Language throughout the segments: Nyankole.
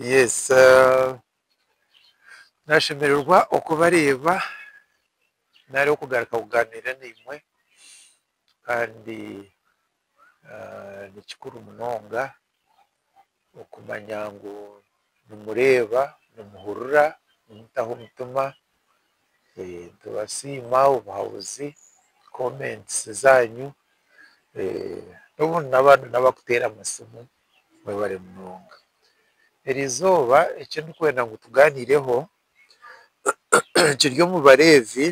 Yes, eh, nashemererwa okubareeba nari okugaruka kuganira naimwe kandi eh, ni kikuru munonga okumanya ngu nimureeba, nimuhurira, nimutaho omutima. Nitubasiima obuhabuzi, comments zaanyu. N'obundi n'abandi n'abakuteera amasimu, mwebare munonga. Eri izooba eki ndikwenda ngu tugaaniireho kiri omu Bareevi,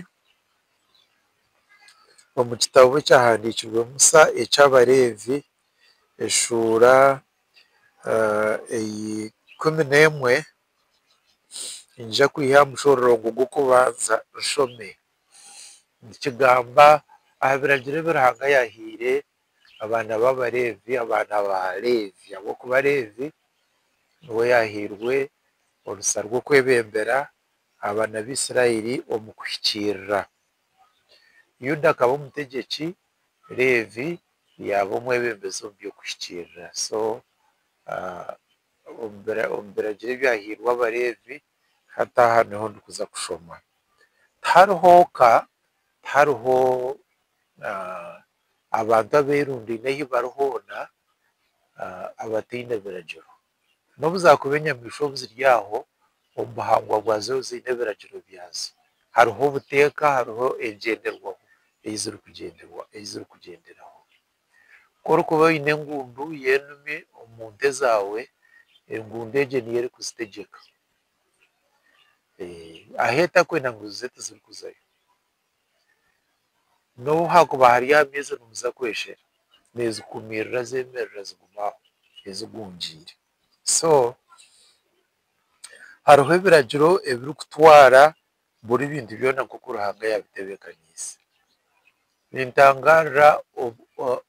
omu kitabo ekyahandiikirwe Musa eky'Abareevi. eshuura eya ikumi n'emwe, niija kwiha aha mushororongo gw'okubanza nshome. Nikigamba aha biragiro ebi Ruhanga yaahaire abaana b'Abaleevi, abaana ba Leevi. Ahabw'okuba Leevi niwe yaahairwe orusa rw'okwebembera abaana ba Isiraeli omu kuhikiirira. Yuda akaba omutegyeki, Leevi yaaba omwebembezi omu by'okuhikiirira. So omu biragiro ebyahairwe Abaleevi, hati aha niho ndikuza kushoma. Tihariho ka, tihariho abantu abeerundaine ahu bari hoona abataine biragiro. N'obu zaakuba enyamaishwa obu ziri aho omu buhangwa bwazo ziine ebiragiro byazo. Hariho obuteeka, hariho engyenderwaho ei zirikugyenderwa, ei zirikugyenderaho. Ku orikuba oine engundu y'enume omu nte zaawe, engundu egyo niyo erikuzitegyeka. Ahu etarikwenda ngu zize tizirikuzayo. N'obu haakuba hariyo amaizi nimuza kweshera, neezikuumirira zeemerera zigume aho ezigungiire. So hariho ebiragiro ebirikutwara buri bintu byona nk'oku Ruhanga yaabitebeekaniise. Nintangaarira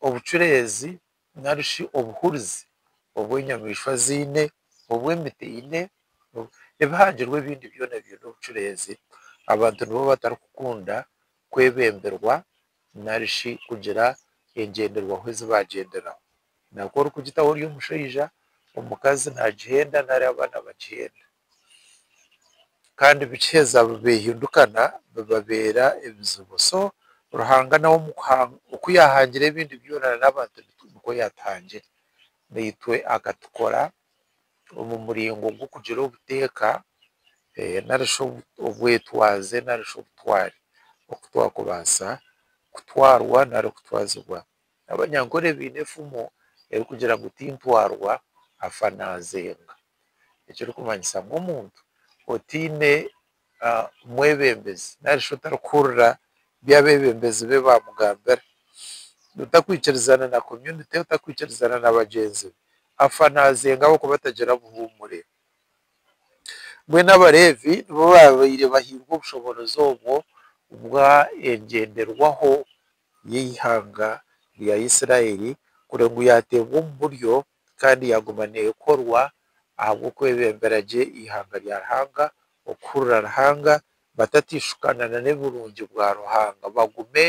obucureezi nari shi obuhurizi obu enyamaishwa ziine, obu emiti eine, ebihangirwe ebindi byona biine obucureezi, abantu nibo batarikukunda kwebemberwa nari shi kugira engyenderwaho ezi baagyenderaho. Naaku orikugitaho ori omushaija, omukazi naagihenda nari abaana bagihenda. Kandi bikiheza behindukana bibabeera ebizibu so Ruhanga nawe oku yahangire ebindi byona nana abantu nikwo yatuhangire naitwe akatukora omu muringo gw'okugira obuteeka narishi obwetwaze narishi obutware oku twakubaasa kutwarwa nari kutwazibwa n'abanyankore baine efumu erikugira ngu tintwarwa afa nazenga. ekirikumanyisa ngu omuntu otaine mwebembezi narishi otarikuhurira ebi abebembezi be bamugambira, otakwikirizana na community, otakwikirizana na bagyenzi be, afa nazenga ahabw'okuba atagira buhumure. Mbwenu Abarevi nibo babaire bahairwe obushoboorozi obwo bw'engyenderwaho y'eihanga rya Isiraeli kureba ngu yateebwa omu buryo kandi yaguma neekorwa ahabw'okwebembera gye eihanga rya Ruhanga, okuhurira Ruhanga, batateishukana na n'eburungi bwa Ruhanga, bagume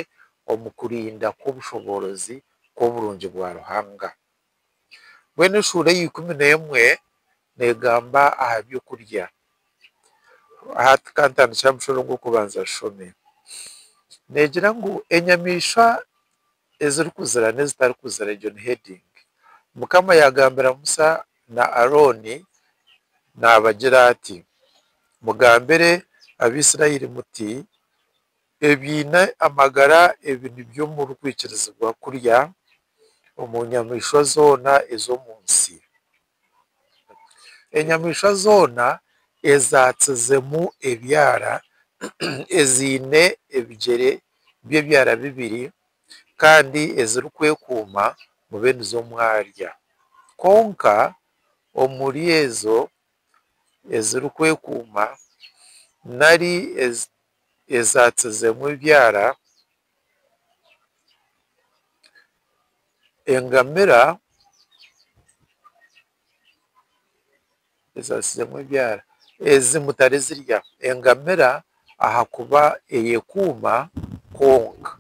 omu kurinda kw'obushoboorozi kw'oburungi bwa Ruhanga. Mbwenu eshuura eya ikumi n'emwe neegamba aha by'okurya. Hati ka ntandikire aha mushoro gw'okubanza nshome. Neegira ngu enyamaishwa Ezirikuzira n'ezitarikuzira, egyo ni heading. Mukama yaagambira Musa na Arooni naabagira ati, Mugambire Abaisiraeli muti, Ebiine amagara ebi nibyo murikwikirizibwa kurya omu nyamaishwa zoona ez'omu nsi. Enyamaishwa zoona ezatsizemu ebyara eziine ebigyere by'ebyara bibiri kandi ezirikwekuuma mube nizo mwarya. Kwonka omuri ezo ezirikwekuuma nari ezatsizemu ebyara, Engamira ezaatsiremu ebyara ezi mutarizirya. Engamira ahakuba eyekuuma kwonka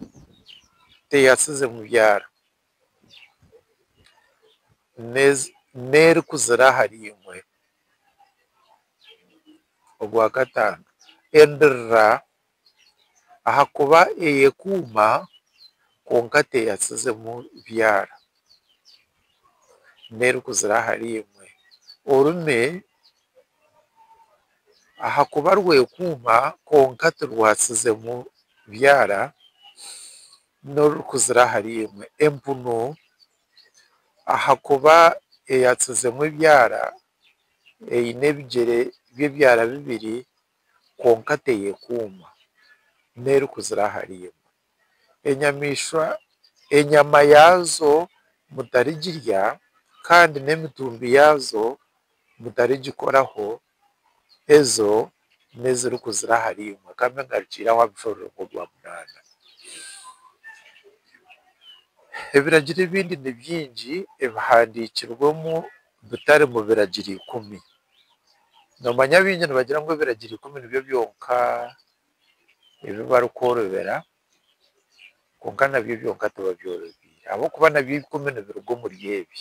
teyatsize mu byara n'erikuzira ahari imwe. Ogwakataano endirira. ahakuba eyekuuma kwonka teyasizemu byara n'erikuzira ahari imwe, orume ahakuba rwekuuma kwonka tirwasizemu byara n'orurikuzira ahari imwe, empunu ahakuba eyasizemu ebyara eine ebigyere by'ebyara bibiri kwonka teyekuuma n'erikuzira ahari imwe. Enyamaishwa enyama yaazo mutarigirya, kandi n'emitumbi yaazo mutarigikoraho, ezo n'ezirikuzira ahari imwe. Ka mbe ngarukiireho aha bushororongo bwa bwa munaana. Ebiragiro ebindi ni bingi ebihandiikirwemu bitari mu Biragiro Ikumi. Noomanya abaingi nibagira ngu Ebiragiro Ikumi nibyo byonka ebi barikworobera, kwonka nabyo byonka tibabyorobeire ahabw'okuba nabyo ikumi nibiruga omuri ebi.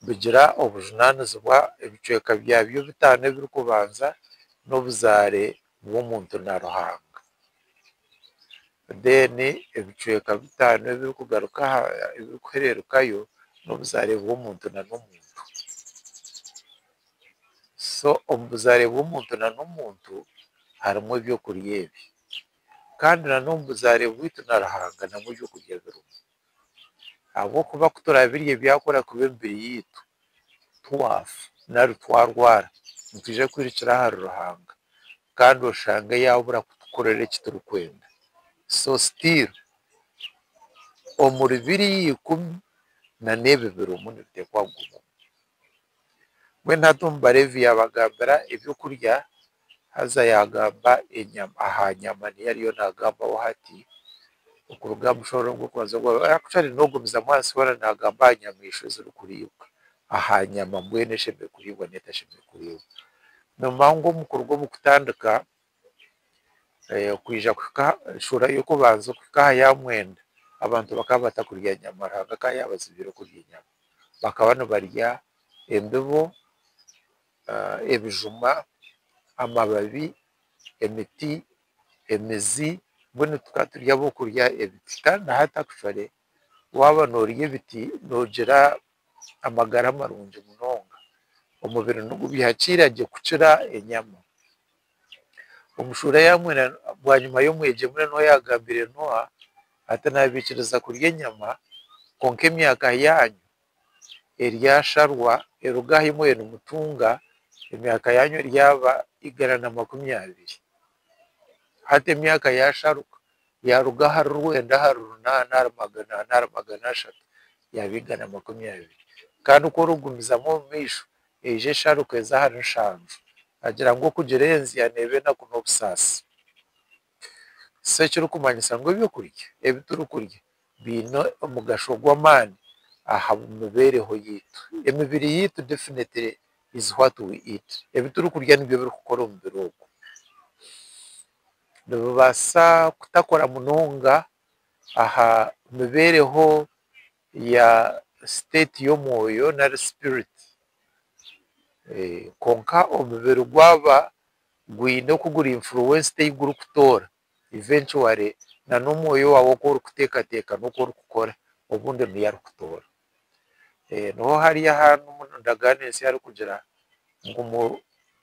Bigira obujunaanizibwa, ebicweka byabyo bitaano ebirikubanza n'obuzaare bw'omuntu na Ruhanga. Then ebicweka bitaano ebirikugaruka aha ebirikuhererukayo n'obuzaare bw'omuntu na n'omuntu. So omu buzaare bw'omuntu na n'omuntu harimu ebyokurya ebi. Kandi na n'omu buzaare bwitu na Ruhanga namu ebyokurya birimu. Ahabw'okuba ku turabirye byakora kubi emibiri yaitu, twafa nari twarwara nitwija kwirukira ahari Ruhanga. kandi oshange yabura kutukorera eki turikwenda. So still omuri biriya ikumi na n'ebi birimu nibitekwa kugumamu. Mbwenu hati omu Balevi yabagambira ebyokurya haza yagamba enyama aha nyama niyo ariyo nagambaho hati okuruga aha mushooro ogw'okubanza ogwa actually nogumizamu ahansi hoona nagamba aha nyamaishwa ezirikuriibwa aha nyama mbwenu eshemereire kuriibwa n'etashemereire kuriibwa. Noomanya ngu omu kuruga omu kutandika kwija kuhika shuura y'okubanza kuhika aha ya mwenda, abantu bakaba batakurya nyama Ruhanga akaba yaabatsibire okurya enyama. Bakaba nibarya embibo, ebijuma, amababi, emiti, emizi, mbwenu tukaba turi ab'okurya ebiti. Kandi na hati akshwere waaba noorya ebiti noogira amagara marungi munonga. Omubiri nigubiha kiira gye kukira enyama. Omushuura yaamwena bwanyima y'omwegyemure noha yaagambire Noha ati, Naabaikiriza kurya enyama, kwonka emyaka yaanyu eryasharwa eruga ahu imwe nimutunga, emyaka yaanyu eryaba igana na makumi abiri. Hati emyaka yaasharuka, yaaruga ahari rwenda ahari runaana ahari magana ana ahari magana ashatu yaaba igana makumi abiri. Kandi ku orikugumizamu omu maisho, eija esharuka eze ahari nshanju. Agira ngu okugira enzya neeba enaku n'obusaasi. So ekirikumanyisa ngu eby'okurya ebi turikurya biine omugasho gw'amaani aha mibeereho yaitu. Emibiri yaitu definitely is what we eat. Ebi turikurya nibyo birikukora omubiri ogwo. nibubaasa kutakora munonga aha mibeereho ya siteeti y'omwoyo nari sipiriti. Kwonka omubiri gwaba gwine oku guri infuruwensidi ei gurikutoora ivencuware n'omwoyo waawe oku orikuteekateeka n'oku orikukora obundi niyo arikutoora. Niho hari aha ndagaano ensi arikugira ngu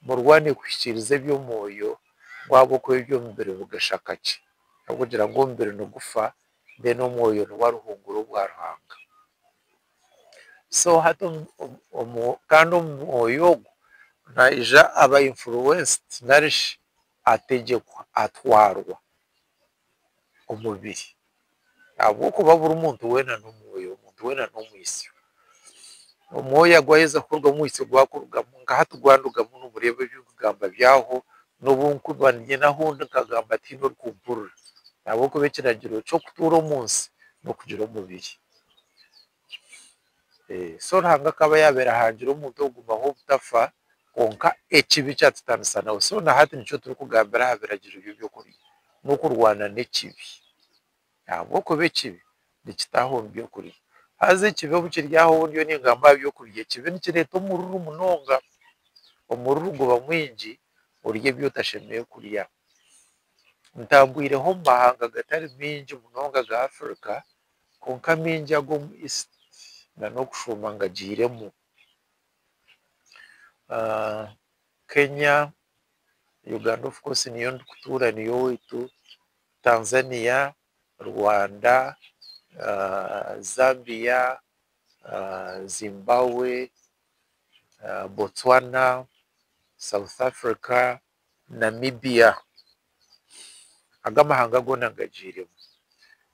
murwane kuhikiiriza eby'omwoyo ngu ahabw'okuba eby'omubiri bigashaka ki. Arikugira ngu omubiri nigufa reero omwoyo niwo aruhungura obwa Ruhanga. So hati kandi omwoyo ogwo naija aba influenced narishi ategyekwa, atwarwa. omubiri ahabw'okuba buri muntu weena n'omwoyo, omuntu weena n'omwitsyo. Omwoyo agu waaheza kurugamu omwitsyo gwakurugamu, nka hati gwandugamu nooreeba ebi ndikugamba byahwaho, n'obu ndikuba niinyenda ahu ndi nkagamba tihaine orikumpurira ahabw'okuba ekiragiro ky'okutuura omu nsi n'okugira omubiri. So Ruhanga akaba yaabaire ahangire omuntu okugumaho obutafa, kwonka ekibi kyatutanisa nawe. So na hati nikyo turikugambira aha biragiro by'eby'okurya, n'okurwana n'ekibi. Ahabw'okuba ekibi nikitaaha omu by'okurya. Haza ekibi obu kiri aho ndiyo ningamba aha by'okurya, ekibi nikireeta omururu munonga. Omururu guba mwingi orya ebi otashemereire kurya. Ntambwireho omu mahanga agatari maingi munonga aga Africa, Kwonka maingi ag'omu East n'okushuuma ngagiiremu. Kenya, Uganda of course niyo ndikutuura niyo owaitu, Tanzania, Rwanda, Zambia, Zimbabwe, Botswana, South Africa, Namibia, ago amahanga goona ngagiiremu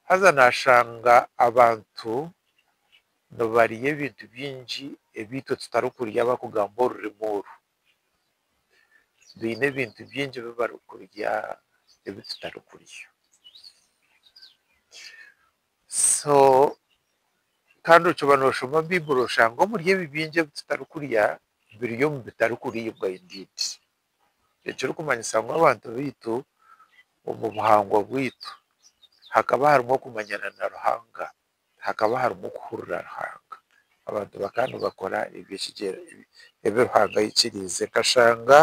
haza naashanga abantu nibarya ebintu bingi ebi itwe tutarikurya abarikugamba orurimi oru. Baine ebintu bingi ebi barikurya ebi tutarikurya. So kandi okiba noshoma baiburi oshange omuri ebi bingi ebi tutari kurya biri omu bitari kuribwa indeed. Ekiri kumanyisa ngu abantu baitu omu buhangwa bwaitu hakaba harimu okumanyana na Ruhanga, hakaba harimu okuhurira Ruhanga. Abantu bakaba nibakora ebi Ruhanga ayikiriize. Nkashanga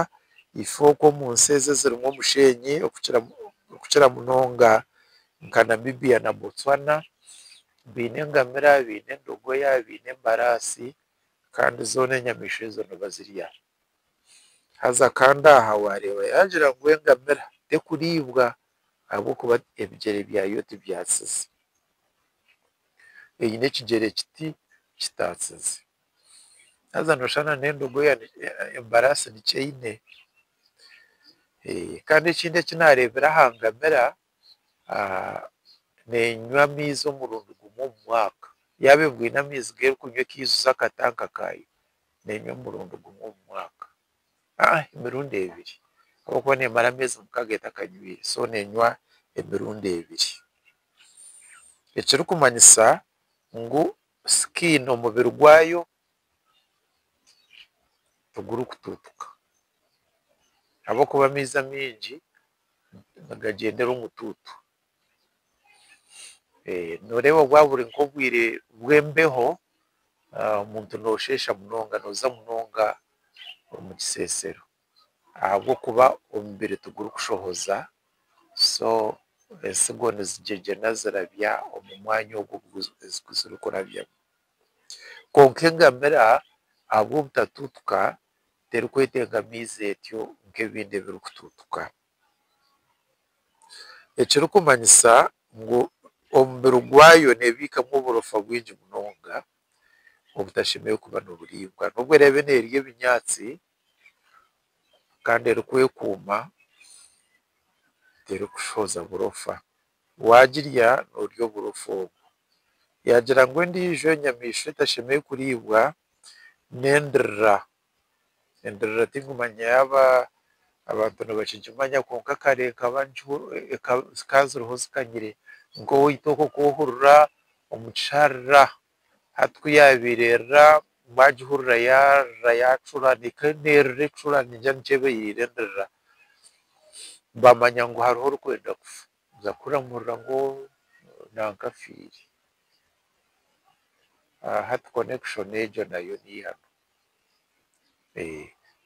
ife oku omu nsi ezi ezirimu omusheenyi okukira munonga nka Namibia na Botswana baine engamira, baine endogoya, baine embaraasi kandi zoona enyamaishwa ezo nibazirya. Haza kandi aha waareeba yaagira ngu engamira terikuriibwa ahabw'okuba ebigyere byayo tibyatsize. Eine ekigyere kiti kitaatsize. Haza nooshusha na n'endogoya embaraasi nikyo eine. Kandi ekindi eki naareebira aha ngamira, nenywa amaizi omurundi gumwe omu mwaka yaaba engwe eine amaizi g'erikunywa ekaijuza akatanka kaayo nenywa omurundi gumwe omu mwaka emirundi ebiri ahabw'okuba nemara ameezi mukaaga etakanywire so nenywa emirundi ebiri ekirikumanyisa ngu sikini omubiri gwayo tigurikutuutuka ahabw'okuba amaizi amaingi nigagyendera omutuutu. Nooreeba bwaba buri nk'obwire bw'embeho, omuntu noosheesha munonga, nooza munonga omu kiseesero ahabw'okuba omubiri tigurikushohoza, so entsigo nizigyengyena zirabya omu mwanya ogu zirikurabyamu. Kwonka engamira ahabw'obutatuutuka terikwetengamaiza etyo nk'ebindi ebirikutuutuka. Ekirikumanyisa ngu omubiri gwayo neebiikamu oburofa bwingi munonga obutashemereire kuba niburiibwa. N'obu eraabe neerya ebinyaatsi kandi erikwekuuma, terikushohoza burofa. Waagirya noorya oburofa obwo. Yaagira ngu endiijo enyamaishwa etashemereire kuriibwa n'endirira. Endirira tinkumanya yaaba abantu nibakigimanya kwonka kare ekaba zikaba ziriho zikanyire nk'owa itookoko ohurira omu kisharira. Hati ku yaabaire erira, baagihurira yaarira yaacura, n'eka neerira ecura nigira nti eba eiriire endirira. Baamanya ngu hariho orikwenda kufa. Nibaza kuramurira ngu nanka afiire. Hati connection egyo nayo niihanu.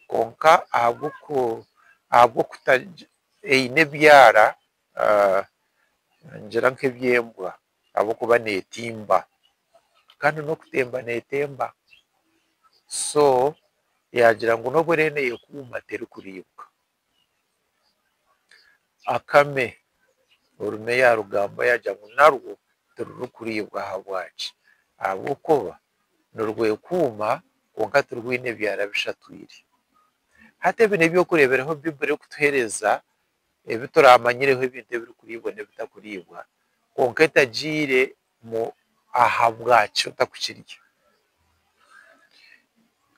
Kwonka ahabw'okuta eine ebyara, ningira nk'eby'embwa, ahabw'okuba neetimba kandi n'okutemba neetemba so yaagira ngu n'obu eriyo neekuuma terikuriibwa. Akame, orume yaarugambaho yaagira ngu narwo tirurikuriibwa ahabwaki? Ahabw'okuba nirwekuuma kwonka tirwine byara bishatwire. Hati ebi n'eby'okureeberaho Baiburi erikutuheereza ebi turaamanyireho ebintu ebirikuriibwa n'ebitakuriibwa, kwonka etagiire mu ahabwaki otarikukirya.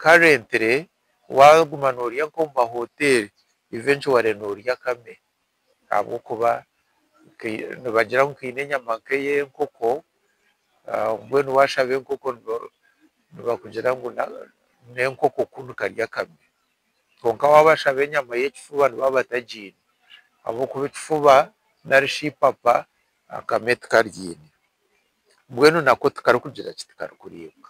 Currently waaguma noorya nk'omu mahoteeri, eventually noorya akame ahabw'okuba nibagira ngu kaine enyama nk'ey'enkoko, mbwenu waashaba enkoko nibakugira ngu n'enkoko ku nikarya akame. Kwonka waaba ashaba enyama y'ekifuba nibaba batagiine ahabw'okuba ekifuba nari shi eipapa akame tikariine. Mbwenu nako tikarikugira ki? Tikarikuriibwa.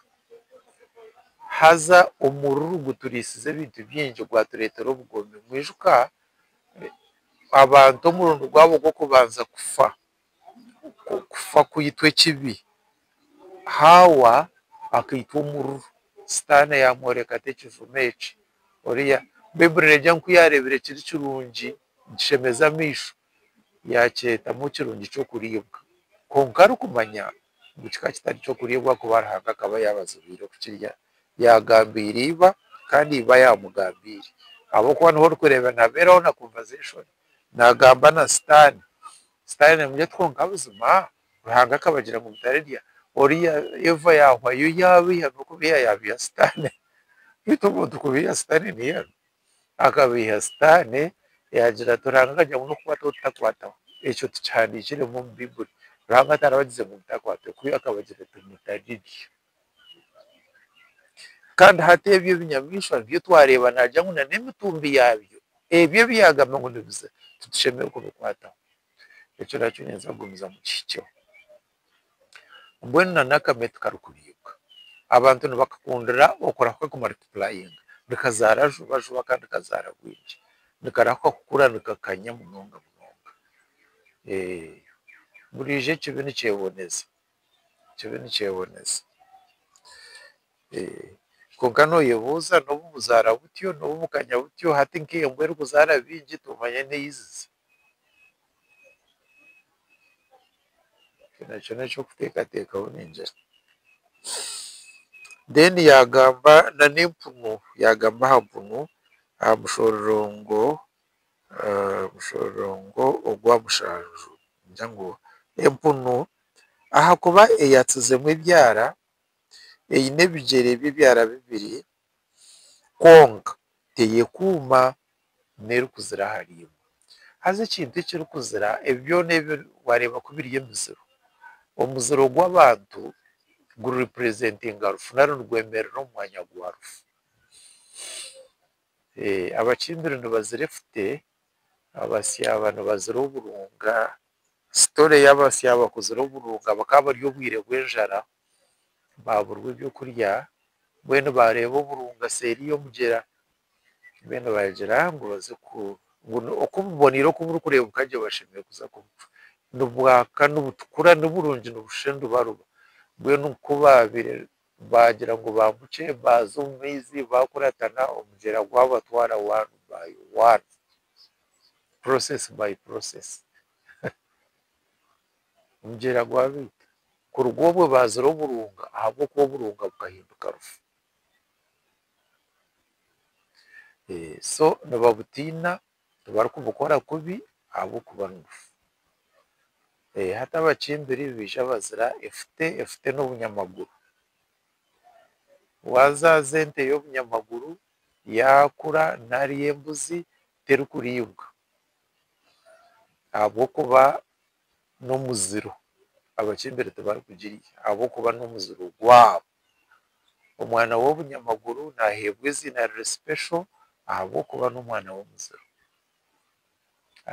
Haza omururu guturiisize ebintu bingi gwatureetera obugomi. Mwijuka abantu omurundi gwabo gw'okubanza kufa. okufa kwaitu ekibi, Haawa akaitwa omururu, Sitaane yaamworeka ata ekijuma eki? Oriya Baiburi neegira ngu ku yaareebire kiri kirungi nikishemeza amaisho, yaakyetamu ekirungi ky'okuriibwa, kwonka arikumanya ngu kikaba kitari ky'okuriibwa ahakuba Ruhanga akaba yaabazibiire kukirya. Yaagambiire iba, kandi iba yaamugambiire. Ahabw'okuba niho orikureebera naabeeraho na kubaza enshoni. nagamba na sitaane, sitaane namurya ati kwonka buzima Ruhanga akabagira ngu mutarirya oriya Eva yahwa yo yabiiha nokubiiha yabiiha sitaane beitu omuntu kubiiha sitaane niye aruga akabiiha sitaane yagira ati Ruhanga akagira ngu nokukwataho tutakwataho ekyo tukihandikiremu omu baiburi Ruhanga tarabagize ngu mutakwata kubi akabagira ati mutarirya. Kandi hati ebyo ebinyamaishwa nibyo twareeba nagira ngu n'emitumbi yaabyo ebyo ebi yaagamba ngu nibiza titushemereire kubikwataho. Ekyo nakyo ninza kugumizamu nkihikyeho. Mbwenu n'akame tikarikuriibwa. Abantu nibakakundira okurahwa kumaritipurayinga, nikazaara juba juba kandi nikazaara bwingi. Nikarahwa kukura nikakanya munonga munonga. Buriijo ekibi nikyeboneza. kibe nikyeboneza. Kwonka noyebuuza nobu buzaara butyo, nobu bukanya butyo, hati nk'embwa erikuzaara bingi toomanya n'ahu eizize. Ekyo nakyo n'ekyokuteekateekaho ningira. Then yaagamba n'empunu, yaagamba aha mpunu, aha mushororongo. Mushororongo ogwa mushanju ningira ngu empunu ahakuba eyaatsizemu ebyara eine ebigyere by'ebyara bibiri kwonka teyekuuma n'erikuzira aharimwe haza ekintu ekirikuzira ebi byona ebi waareeba ku biri emiziro, omuziro gw'abantu gurirepurezentinga rufu nari nigwemerera omu mwanya gwa rufu. Abakimbiri nibazira efute, abasyaaba nibazira oburunga. Sitori ey'abasyaaba kuzira oburunga bakaba bari obwire bw'enjara baaburwa eby'okurya mbwenu baareeba oburunga seeri y'omugyera mbwenu baagira ngu baze ku ngu oku buboniire oku burikureebeka gye bashemereire kuza kubucwa. Nibwaka nibutukura niburungi nibushusha endubaruba mbwenu ku baabaire Baagira ngu baambukye baaza omu maizi baakuratana omugyera gwabatwara one by one, process by process omugyera gwabaita. Kuruga obwo baazire oburunga ahabw'okuba oburunga bukahinduka rufu. So nibabutiina Tibarikubukora kubi ahabw'okuba ngufu. Hati abakimbiri baija bazira efute, efute n'obunyamaguru. Waazaaza ente y'obunyamaguru yaakura nari embuzi terikuriibwa ahabw'okuba n'omuziro. Abakimbiri tibarikugirya ahabw'okuba n'omuziro gwabo. Omwana w'obunyamaguru naaheebwa eiziina riri special ahabw'okuba n'omwana w'omuziro.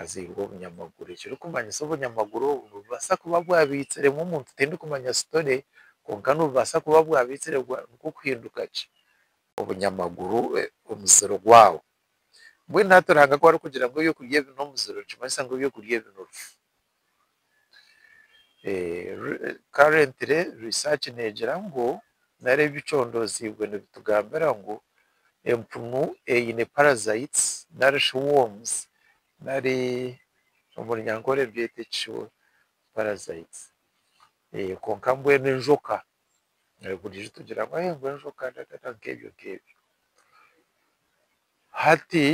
Azairwe obunyamaguru ekirikumanyisa obunyamaguru obu nibubaasa kuba bwabaitsiremu omuntu tindikumanya story kwonka nibubaasa kuba bwabaitsire nikwo kuhinduka ki? Obunyamaguru omuziro gwaabo. Mbwenu hati Ruhanga ku arikugira ngu ebyokurya ebi n'omuziro nikimanyisa ngu ebyokurya ebi n'orufu. Currently research negira ngu nari ebicondoziibwe nibitugambira ngu empunu eine parasites nari shi worms nari omu runyankore ebyete ki parasites kwonka mbwenu enjoka buri ijjo tugira ngu enjoka nk'ebyo nk'ebyo hati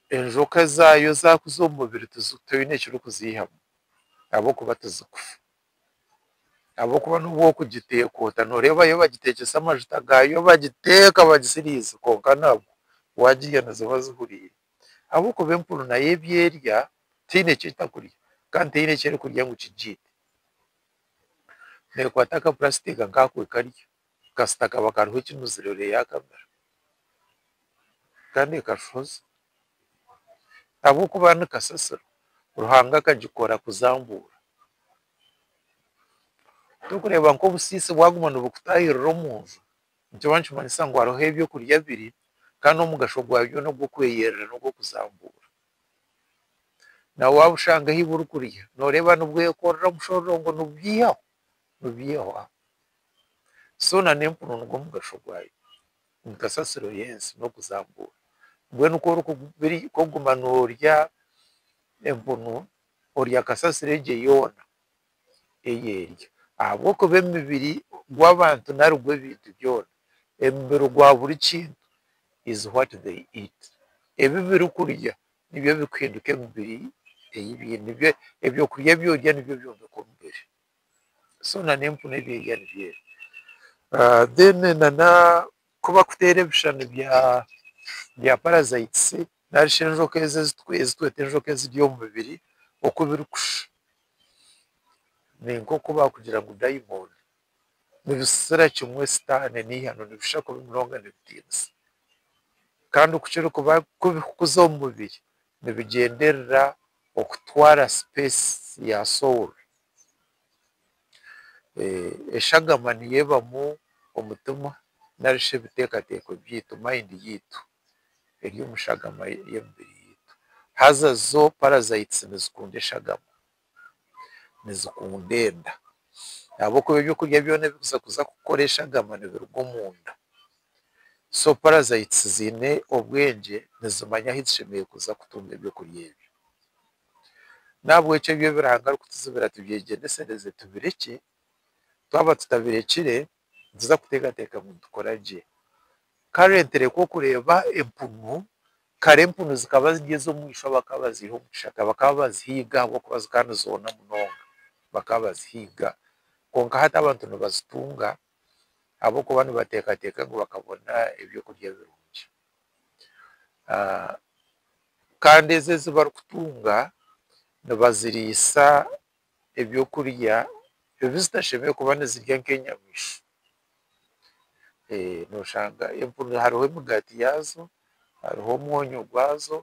enjoka zaayo zaakuza omu mubiri toine ekirikuziihamu ahabw'okuba tizikufa ahabw'okuba n'obu orikugiteeka ota nooreeba yo bagiteekyesa amajuta gaayo bagiteeka bagisiriisa kwonka nabwo waagirya niziba zihuriire ahabw'okuba empunu nayo ebi erya teine eki erikurya kandi teine eki erikurya ngu kigiite, neekwata akapurasitika nkaako ekarya kasita kaba kariho ekinuzire oreeya aha kamera kandi ekafoza ahabw'okuba ni kasasiro Ruhanga akagikora kuzambuura. Torikureeba ngu obusiisi bwaguma nibukutaahirira omu nju nikiba nikimanyisa ngu hariho eby'okurya biri kandi omugasho gwabyo n'ogw'okweyerera n'ogw'okuzambuura. Naawe waaba oshanga ahi burikurya nooreeba nibwekorera omushororongo nibubyihaho Nibyeihwa. So na n'empunu nigwo mugasho gwayo nka sasiro y'ensi n'okuzambuura. Mbwenu ku orikuguma noorya empunu, orya kasasiro egyo yoona ei erya. Ahabw'okuba emibiri gw'abantu nari gw'ebintu byona, emibiri gwa buri kintu is what they eat. Ebi birikurya Nibyo bikuhinduka emibiri ei biine. Ebyokurya ebi orya nibyo byombeka omubiri. So na n'empunu ebi erya nibyo ebyo. Then na na ku bakuteera ebishushani bya parasites nari shi enjoka ezi ezi tweta enjoka ezirya omu mibiri oku birikushusha. Ni nk'oku baakugira ngu dayimooni. nibisisira kimwe sitaane n'eihano nibishusha kubi munonga nibitiinisa. Kandi oku kirikuba kubi kukuza omu mubiri nibigyenderera okutwara sipeesi ya soul. Eshagama niyo ebamu omutima nari shi ebiteekateeko byaitu, mind yaitu eri omu shagama y'emibiri yaitu. Haza zo parasites nizikunda eshagama. nizikunda enda ahabw'okuba eby'okurya byona ebi orikuza kuza kukora eshagama nibiruga omunda. So parasites ziine obwengye nizimanya ahu zishemereire kuza kutunga eby'okurya ebyo. N'ahabw'ekyo ebi Ruhanga arikutuzibira tubyegyendesereze tubirekye, twaba tutabirekire nituza kuteekateeka ngu nitukora gye. Kare nterekwa okureeba empunu, kare empunu zikaba ziri ez'omwishwa bakaba baziiha omu kishaka, bakaba bazihiga ahabw'okuba zikaba nizoona munonga, bakaba bazihiga. Kwonka hati abantu nibazitunga ahabw'okuba nibateekateeka ngu bakabona ebyokurya birungi. Kandi ezi ezi barikutunga nibaziriisa ebyokurya ebi zitashemeriire kuba nizirya nk'enyamaishwa. Nooshanga empunu hariho emigaati yaazo, hariho omwonyo gwazo,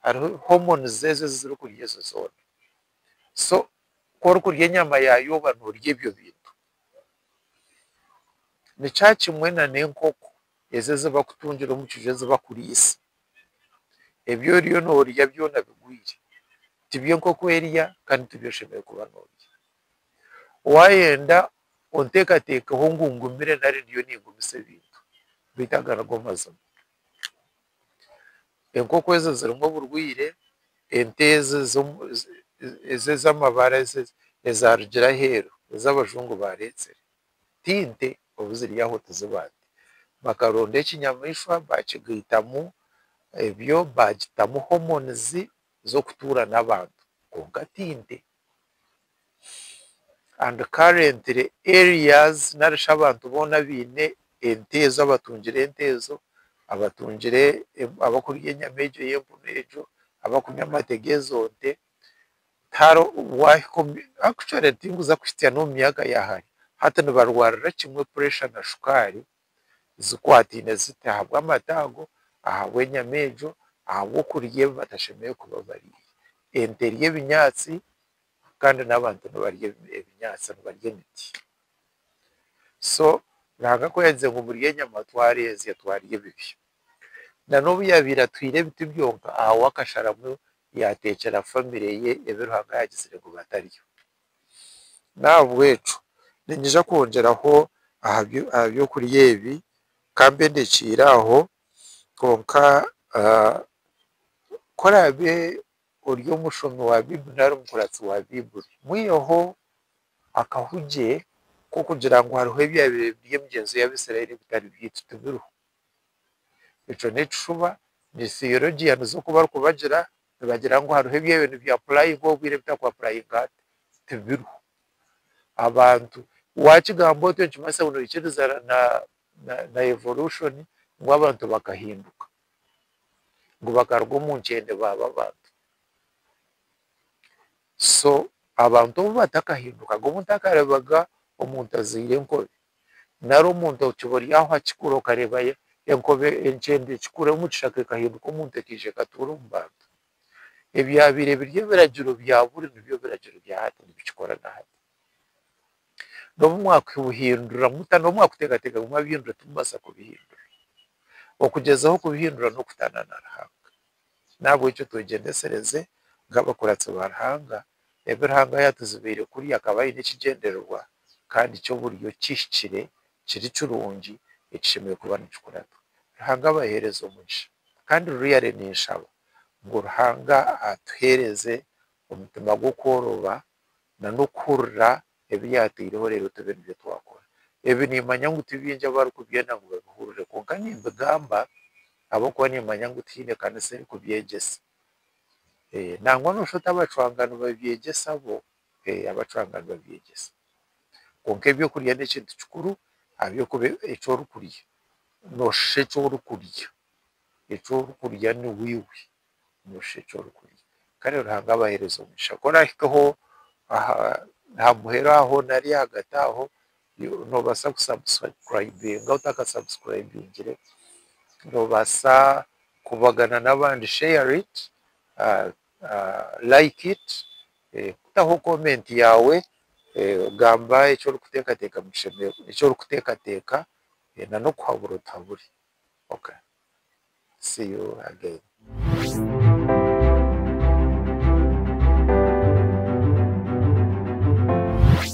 hariho homoni zezo ezi zirikurya ezo zoona. So ku orikurya enyama yaayo oba noorya ebyo bintu. Ni kyakimwe n'enkoko ezo ezi bakutungire omu kiju ezi bakuriisa. ebi oriyo norya byona bigwire tibyo nkoko erya kandi tibyo oshemereire kuba norya. Wayenda onteekateekeho ngu ngumire nari ndiyo ningumisa ebintu beitu aga nigo mazima. Enkoko ezo zirimu oburwire, ente ezo ez'amabara ezo ezarugiire aheeru ez'abajungu bareetsire. ti nte obu ziri aho tiziba nte. Bakaronda ekinyamaishwa baakigaitamu ebyo baagitamu hormones z'okutuura n'abantu kwonka ti nte. And currently areas nari shi abantu boona abaine ente ezo abatungire ente ezo, abatungire abarikuriya enyama egyo y'empunu egyo, abarikunywa amate g'ezo nte, tinkuza kuhitsya n'omu myaka ya hare, hati nibarwarira kimwe puresha na shukaari zikwataine ziti ahabw'amata ago, ahabw'enyama egyo, ahabw'okurya ebi batashemereire kuba barya. Ente erya ebinyaatsi kandi n'abantu nibarya ebinyaatsi nibarya emiti. So Ruhanga ku yaagize ngu murye enyama twareezya twarya ebibya. Nanobu yaabaire atwiire ebiti byonka, ahabw'akasharamu yaateekyera famire ye ebi Ruhanga yaagizire ngu bataryo. N'ahabw'ekyo niinyija kwongyeraho aha by'okurya ebi ka mbe ndekyeire aho. Kwonka ku oraabe ori omushomi wa Baibuli nari omukuratsi wa Baibuli, mwiheho akahugi k'okugira ngu hariho ebyabire biri emigyenzo y'Abaisraeli ebitari byaitu tibiriho. ekyo nekishuba ni theologia nizo kubarikubagira nibagira ngu hariho ebyabo nibya apurayingwa obwire ebitari ku apurayingwa hati tibiriho abantu wakigamba otyo nikimanyisa ngu noikiriza na evolushoni ngu abantu bakahinduka ngu bakaruga omu nkyende baaba abantu so abantu obu batakahindukaga omuntu akarebaga omuntu azaire enkobe Nari omuntu okiba ori aho akikura okareeba enkobe enkyende ekikura omu kishaka ekahinduka omuntu ekaija ekatuura omu bantu. Ebyabaire biri ebiragiro bya buri nibyo biragiro bya hati nibikikora na hati. N'obu mwakubuhindura muta n'obu mwakuteekateeka ngu mwabihindura timubaasa kubihindura. Okugyezaho kubihindura n'okutaana na Ruhanga. N'ahabw'ekyo twegyendesereze nk'abakuratsi ba Ruhanga, ebi Ruhanga yaatuzibiire kurya akaba aine ekigyendererwa kandi ky'oburyo kihikire kiri kirungi ekishemereire kuba nikikuratwa. Ruhanga abaheereze omugisha. Kandi ruriyare ninshaba ngu Ruhanga atuheereze omutima gw'okworoba na n'okuhurira ebi yaataireho reero tibi nibyo twakora. Ebi niimanya ngu ti baingi abarikubyenda ngu babihurire, kwonka nimbigamba ahabw'okuba niimanya ngu tihaine kanisa erikubyegyesa. Nangwa nooshusha oti abacwangani babyegyesa bo? Ee, abacwangani babyegyesa. Kwonka ebyokurya n'ekintu kikuru ahabw'okuba eki orikurya nooshusha eki orikurya. Eki orikurya niwe iwe. nooshusha eki orikurya. Kare Ruhanga abahereze omugisha. Ku orahikeho aha aha muheru aho nari ahagati aho, noobaasa ku subscribinga otaka subscribingire, noobaasa kubagana n'abandi share it, like it, taho comment yaawe, gamba eki orikuteekateeka, eki orikuteekateeka, na n'okuhabura otuhabure. see you again.